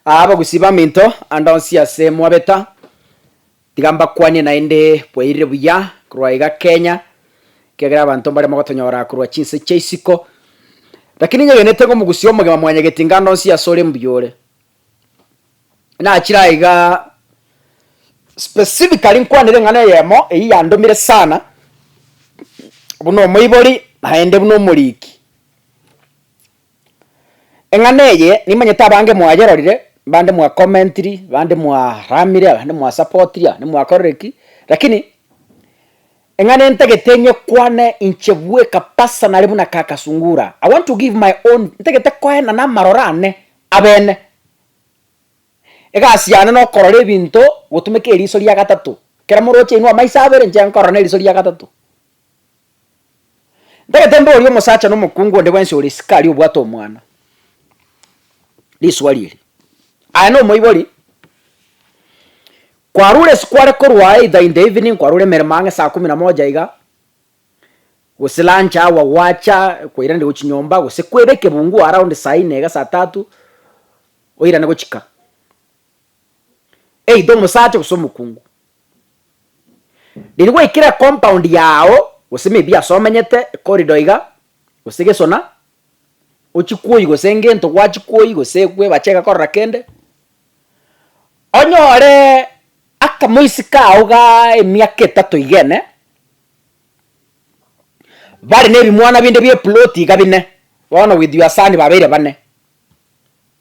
Aa bagusii baminto, ande onsi ase mwabeta, tiga mbakwanie naende bwairire buya korwa iga Kenya, ekiagera abanto mbaria mogotonyora korwa chinse chia isiko, rakini inyegenete ng'a omogusii omogima mwanyageti inga ande onsi ase ore mbuya ore. Nachire aa iga specifically nkwanere eng'ana eyemo eyio yandomire sana, buna omoibori naende buna omoriki. Eng'ana eye nimanyete abange mwayerorire, bande mwa commentiri, bande mwaramire, abande mwa supportiri, abande mwakorire ki, lakini eng'ana entagete nyekwane inche bweka personally buna kaka Sungura, I want to give my own ntagete koena na amaroro ane abene. Egasi yane nokorora ebinto gotumeka eriso ria gatato, kera moroche inwe amaiso abere inche nkorora na eriso ria gatato. Ndagete mboorie omosacha na omokungu onde bwensi ore isiko aria obwate omwana. Riswali eri. Aye na omoibori, kwarure ase kware korwa either in the evening kwarure emeremo ang'e saa kumi na moja iga, gose lunch hour gwacha kwairaniria gochia nyomba gose kwaira ekebungu around saa inne iga saa tatu, oirane gochika. either omosacha gose omokungu. Riria gwaikire ecompound yago gose maybe ase omenyete, ecorridor iga, gose gesona, ochikwoyi gose ngento gwachikwoyi gose gwebache iga korora kende, onyoree akamoisi kago gaa emiaka etato iga ene, bare na ebimwana binde bia eploti iga bine, bono with your son babeire bane.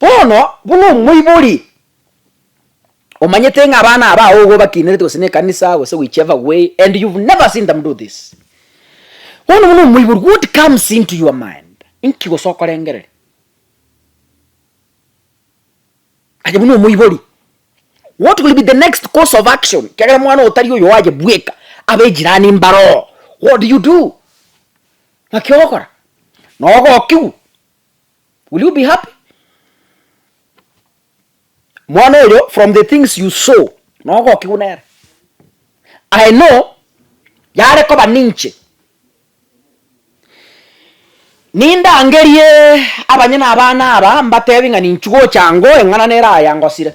Bono, buna omoibori omanyete ng'a abana abao igo bakinerete gose na ekanisa gose whichever way and you've never seen them do this, bono buna omoibori what comes into your mind? Inki gose okorengereria? Aye buna omoibori. What will be the next course of action kiagera mwana oyo tari oyoaye bweka abe ejirani mbaroo what do you do? Naki ogokora nogokigwa will you be happy? Mwana oyo from the things you saw nogokigwa nere I know yare koba ninche Nindangerie abanyene abana aba mbatebie ng'a ninchi gocha ango eng'ana nere aya ngosire.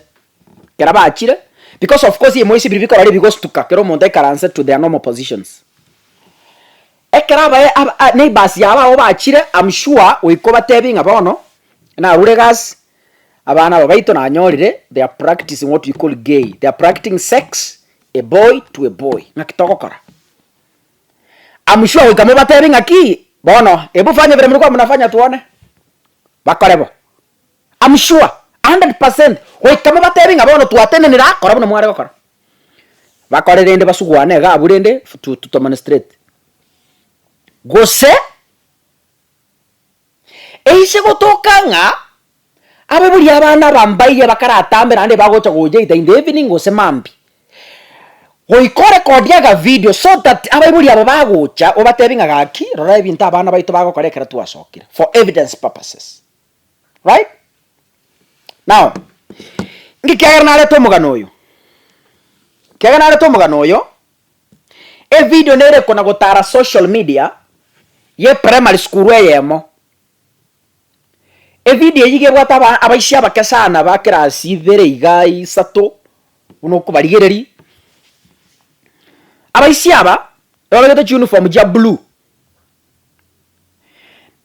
Ekero bachire, because of course ebimoisi biri bikorora ebigostuka kera omonto aikaranse to their normal positions. Ekero abae aba a neighbours yabo abwo bachire am sure goika obatebie ng'a bono narure egasi, abana aba baito nanyorire they are practicing what we call gay, they are practicing sex a boy to a boy, ng'aki togokora? Amuchwa goika mobatebie ng'aki, Bono ebu fanya ebere muri komunafanya twone. Bakore bo. Amuchwa, a hundred percent, goika mobatebie ng'a bono twatenenire akora buna mware gokora. Bakore rende basuguane iga abwo rende to to tomonstrate. Gose. Eise gotoka ng'a abo bori abana abambaye bakaratambe naende bagocha goyeita in the evening gose mambi. Goika orekodie akavideo so that abaibori abo bagocha obatebie ng'a gaki rora ebinto abana baito bagokora ekero twasokire for evidence purposes. Right? Now, ng'ekiagera narete omogano oyo, ekiagera narete omogano oyo, Evideo nere kona gotara social media ye primary school eyemo. Evideo eyio iga ebwate aba abaisia abake sana ba class ibere iga isato buna okobarigereria. Abaisia aba babeete chiuniform chia blue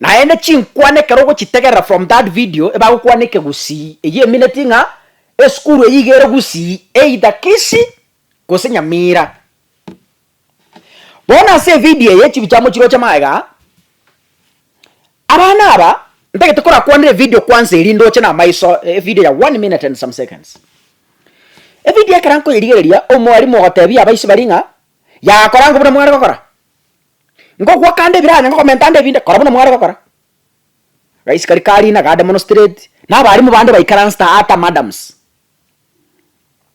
naende chinkwana ekero ogochitegerera from that video ebagokwana eke gusii eyio emineti ng'a esukuru eyio iga ere gusii either Kisii. gose nyamira. Bono ase evideo eye chibichamo chiroche magega, abana aba ntagete korakwanera evideo kwansa eria ndoche na amaiso evideo ya one minute and some seconds. Evideo ekero nkoyerigereria omwarimu ogotebia abaisi baria ng'a yaga kora ngobuna mware gokora, ngokwa kande ebiranya ngokomenta ande ebinde kora buna mware gokora. Gaisi karia karina gade mono straight, na abarimu bande baikaransete ata madams.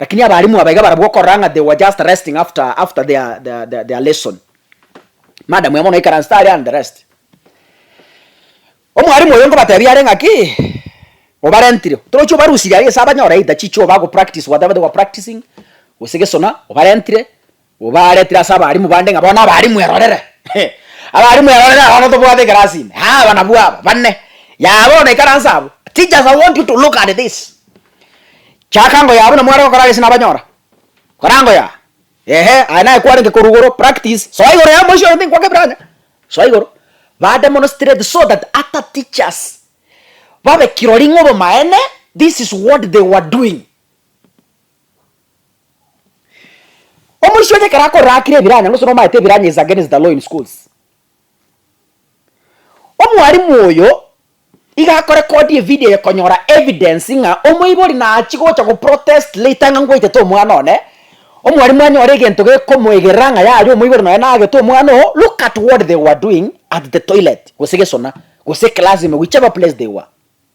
Lakini abalimu aba iga barabwo okorora ng'a they were just resting after after their their their lesson. Madam oye bono oikaransete aria and the rest. Omwalimu oyo nkobatebia are ng'aki obarentire torochi obarusirie aria ase abanyore either chicho bago practice whatever they were practicing gose gesona obarentire Obaaretire ase abarimu bande ng'a bono abarimu erorere. Abarimu erorere aba bono tobwate ekerasini. Aa aba nabwo aba, bane. Yaya bono ikaranse abwo. Teachers I want you to look at this. Chaka ngoyaya buna mware gokora gese nabanyora. Kora ngoyaya. Ehe aye naye kwarenge korwa igoro practice. Soa igoro ya moisio oyo tinkwanga ebirancha. Soa igoro. Bande mono straight so that ata teachers babe kirori ng'a obomaene this is what they were doing. Omoisia oye ekero akorakire ebiranya gose nomaete ebiranya is against the law in schools. Omwalimu oyo iga ako record evideo eye konyora evidence ng'a omoibori nachie gocha go protest later ng'a ngwaitete omwana one, omwalimu anyore egento gekomoegerera ng'a yari omoibori nonya nagete omwana oo, look at what they were doing at the toilet gose gesona gose class ime whichever place they were.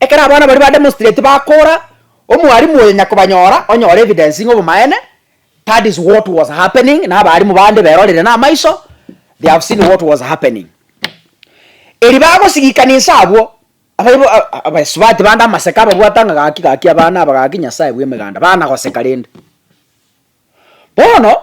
Ekero abana baria ba demonstrate bakora, omwarimu oyo nyakobanyora, onyore evidence ng'a obomaene, that is what was happening, na abarimu bande berorire namaiso, they have seen what was happening. Erio bagosigikana inse abwo, abaibo a- a- abaesubati bande amaseke ababwate ng'a gaki gaki abana aba gaki nyasae bw'emeganda, bana goseka rende. Bono.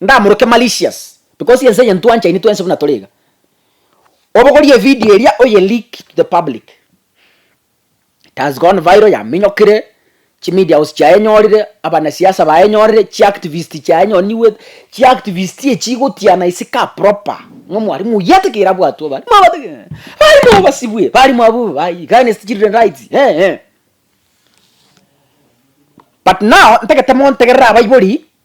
ndamoroke malicious because ense eye ntwanchaine twensi buna tore iga. Obogorie evideo eria oye leak to the public. It has gone viral yaminyokire, chi media house chiayenyorire, abanasiasa bayenyorire, chi activist chiayenyorire nigo chi activist echi igotiana ase ka proper ng'a mwarimu oyio atigere abwatwe abarimu aba atigere abarimu aba basibwe abarimu aba aba against children rights eeh. But now ntagete montegerere abaibori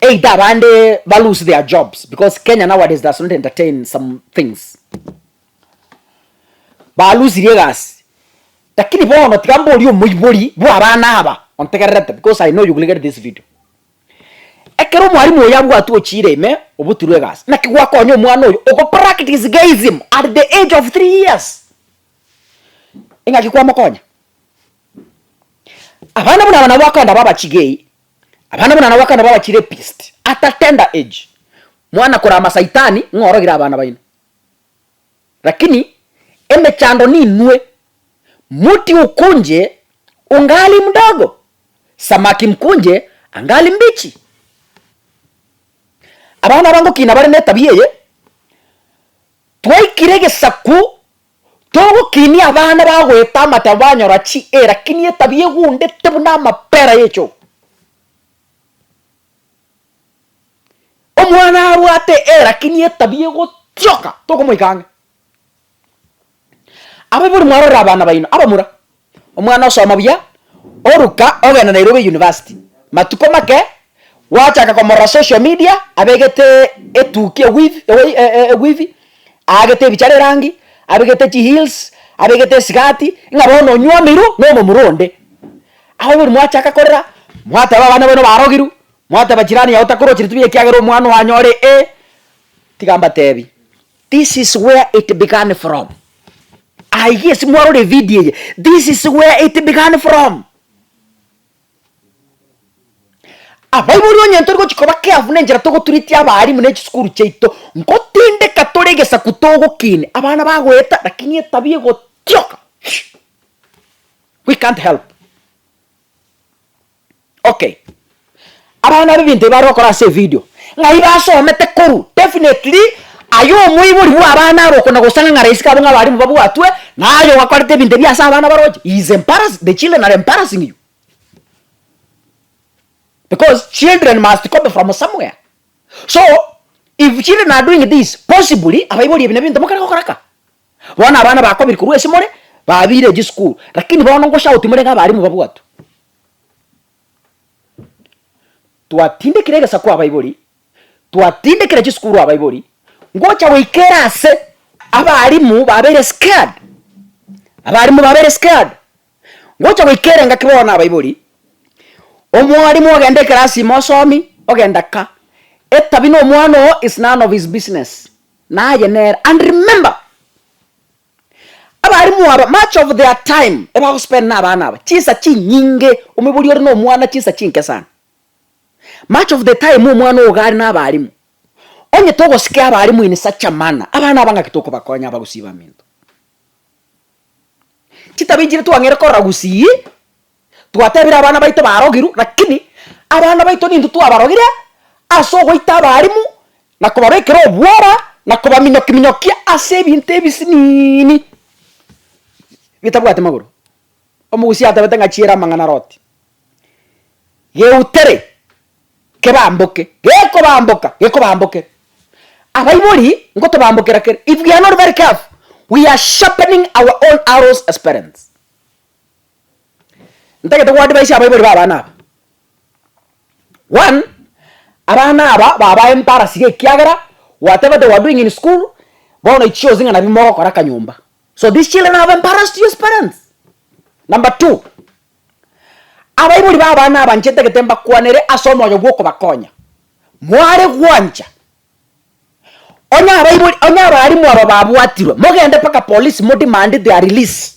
Either abande ba lose their jobs because Kenya nowadays does not entertain some things. Ba lusirie egasi. Lakini bono tiga mborie omoibori bwa abana aba ontegererete because I know you will get this video. Ekero omwalimu oyo abwatwe ochiire ime obutirwe egasi naki gwakonya omwana oyo oko practice gayism at the age of three years? Ingaki kwamokonya? Abana buna aba nabo bakogenda baba chigei. Abana buna nabo bakana baba chirepist at a tender age, mwana kora amasaitani ng'a orogire abana baino. Rakini emechando ninue, muti ukunje ungali mdogo, samaki mkunje angali mbichi. Abana aba ngokina bare netabia eye, twaikire egesaku. Togokinia abana bagoeta amache banyora chi e lakini etabia egundete buna amapera y'echogu. Omwana abwate e lakini etabia egotioka tokomoika ang'e. Abe bori mwarorere abana baino abamura. Omwana osoma buya, oruka ogenda Nairobi University. Matuko make gwachaka komorora social media abegete etuki ewifi ewei e ewifi, aagete ebichara erangi, abegete chiheels, abegete esigati, ng'a bono onywa omiru na omomura onde. Agwo bori mwachaka korera, mwateba abana bano barogiru, mwateba chirani yago takorwa chiri tubia ekiagera omwana oyo anyore ee, tiga mbatebi. This is where it began from aiga ase mwarore video eye this is where it began from abaibori onye ntori gochi koba careful nenchera togotreat abaalimu ne chisukuru chiaito ngotindeka tore egesaku togokina abana bagoeta lakini etabia egotioka we can't help. Okay, abana aba ebinto ebi bare gokora ase evideo, ng'ai basomete korwa? Definitely aye omoibori bw'abana aba okona gosang'ang'ara isiko abwo ng'a abarimu babwatwe, naye ogakorete ebinto ebi ase abana baroche, he is embarrassed, the children are embarrassing you, because children must copy from somewhere, so if children are doing this possibly abaibori ebi nebinto mokare gokora ka. Bono abana bakobiri korwa ase more babiire echi school lakini bono ngochaka gotimorenge abalimu babwatwe. Twatindekire egesaku abaibori, twatindekire chisukuru abaibori, ngocha goika erase abalimu babeire scared, abalimu babeire scared, ngocha goika ere ngaki bono na abaibori, omwalimu ogenda ekerasi ime osomi ogenda ka, etabia na omwana oo is none of his business. Naye nere, and remember, abalimu aba much of their time ebagospend na abana aba chinsa chinyinge, omobori ore na omwana chinsa chinke sana. Much of the time omwana ogo are na abalimu, onye togosike abalimu in such a manner, abana aba ng'aki tokobakonya aba gusii baminto? Chitabechire twang'eire korora gusii. Twatebire abana baito barogirwe, lakini abana baito nintwe twabarogire ase ogoita abarimu na kobabekera obwora na kobaminyokiminyokia ase ebinto ebisiniini bitabwati magoro. Omogusia atabete ng'a chiera amang'ana are oti, geutere kebamboke, gekobamboka gekobambokere. Abaibori ngotobambokera kere, if we are not very careful, we are sharpening our own arrows as parents. Ntagete go advise abaibori b'abana aba. One, abana aba babae embarasi g'ekiagera whatever they were doing in school, bono ichi chionsi ng'a nabi mogokora kanyomba. So these children have embarrassed you as parents. Number two, abaibori b'abana aba inche ntagete mbakwanere ase omoyo bw'okobakonya. Mware gwancha, onye abaibori onye abalimu aba babwatirwe, mogende mpaka polisi modemand their release.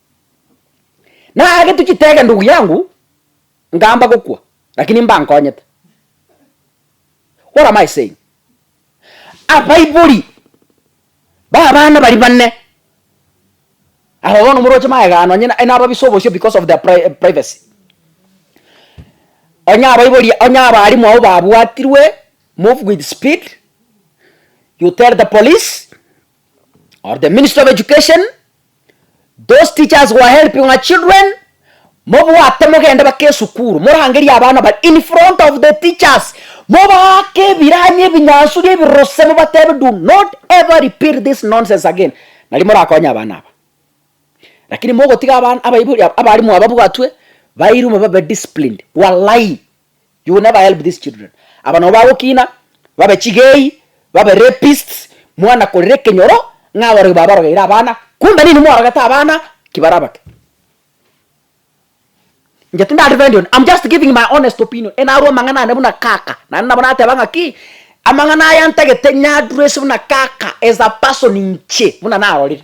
Naagete chitege ndugu yangu, nkaamba gokwa, lakini mbankonyete. What am I saying? Abaibori b'abana baria bane, aba bono moroche magega nonye na- nababisa obosio because of their pri- privacy. Onye abaibori onye abaalimu abwo babwatirwe, move with speed, you tell the police, or the ministry of education those teachers who are helping our children mobwate mogende bake esukuru morangerie abana bare in front of the teachers mobaake ebiranya ebinyansuri ebirose mobatebe do not ever repeat this nonsense again nari morakonye abana aba lakini mogotiga abana abaibori aba abalimu aba babwatwe bairume babe disciplined walai You will never help these children. Aba nabo bagokina, babe chigei, babe rapists, mwana korera ekenyoro ng'a aborogi babarogeire abana, kumbe ninwe mwarogete abana ki barabake. Inche tindari defendi one, I'm just giving my honest opinion, enarwe amang'ana ane buna kaka, naende nabo nateba ng'aki, amang'ana aya ntagete nyadress buna kaka as a person inche buna narorire.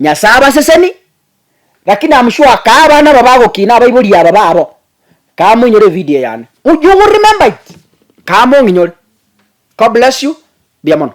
Nyasae abaseseni, gaki namusure akaa abana aba bagokina abaibori aba babo, kamoinyore evideo yane, u you will remember it, kamong'inyore, God bless you, mbuya mono.